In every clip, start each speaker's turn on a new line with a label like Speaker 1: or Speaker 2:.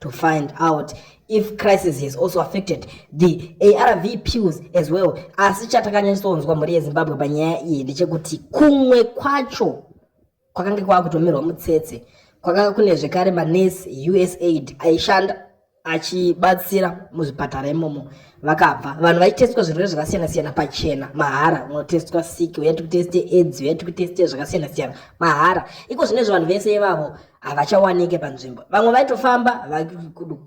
Speaker 1: to find out if crisis has also affected the arv pills as well asi chatakanyatsonzwa mhuri yezimbabwe panyaya iyi ndechekuti kumwe kwacho kwakange kwava kutomirwa mutsetse kwakanga kune zvekare manesi usaid aishanda achibatsira muzvipatara imomo vakabva vanhu vaitestwa zvirwere zvakasiyana-siyana pachena mahara unotestwa siki uyati kuteste edzi uyati kuteste zvakasiyana-siyana mahara iko zvine zve vanhu vese ivavo havachawanike panzvimbo vamwe vaitofamba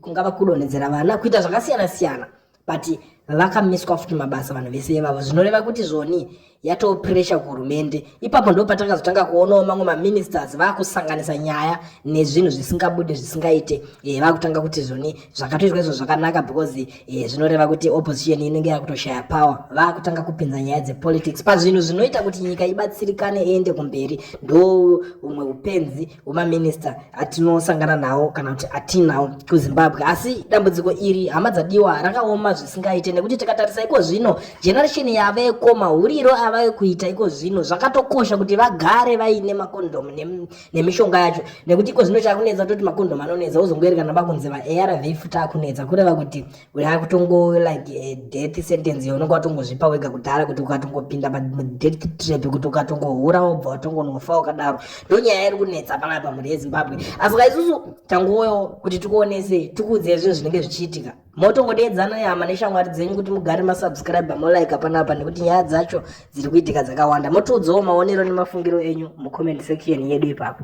Speaker 1: kungava kudonhedzera vana kuita zvakasiyana siyana but vakamiswa futi mabasa vanhu vese ivavo zvinoreva kuti zvoni yatopresha kuhurumende ipapo ndo patakazotanga kuonawo mamwe maministers vakusanganisa nyaya nezvinhu zvisingabude zvisingaite e, vakutanga kuti zvoni zvakatoitwa izvo zvakanaka because Izvi zvinoreva kuti opposition inenge yakutoshaya power vakutanga kupinza nyaya dzepolitics pazvinhu zvinoita kuti nyika ibatsirikane iende kumberi ndo umwe upenzi wemaminista atinosangana nawo kana kuti atinawo kuzimbabwe asi dambudziko iri hama dzadiwa rakaoma zvisingaite nekuti tikatarisa iko zvino generation yaveko mahuriro avave kuita iko zvino zvakatokosha kuti vagare vaine makondomu nemishonga yacho nekuti iko zvino chakunetsa toti makondom anonetsa wozongoerekana bakunzi vaarv futi akunetsa kureva kuti yakutongo like eh, death sentence yaunenge watongozvipa wega kudhara kuti ukatongopinda padeath trap kuti ukatongohura wobva watongonofa ukadaro ndo nyaya iri kunetsa panapa mhuri yezimbabwe asi ka isusu tangoyo kuti tikuonese tikuudze zvinhu zvinenge zvichiitika motongodeedza noyama neshamwari dzenyu kuti mugare masubscribe molaika panapa nekuti nyaya dzacho dziri kuitika dzakawanda motiudzawo maonero nemafungiro enyu mucomment section yedu ipapo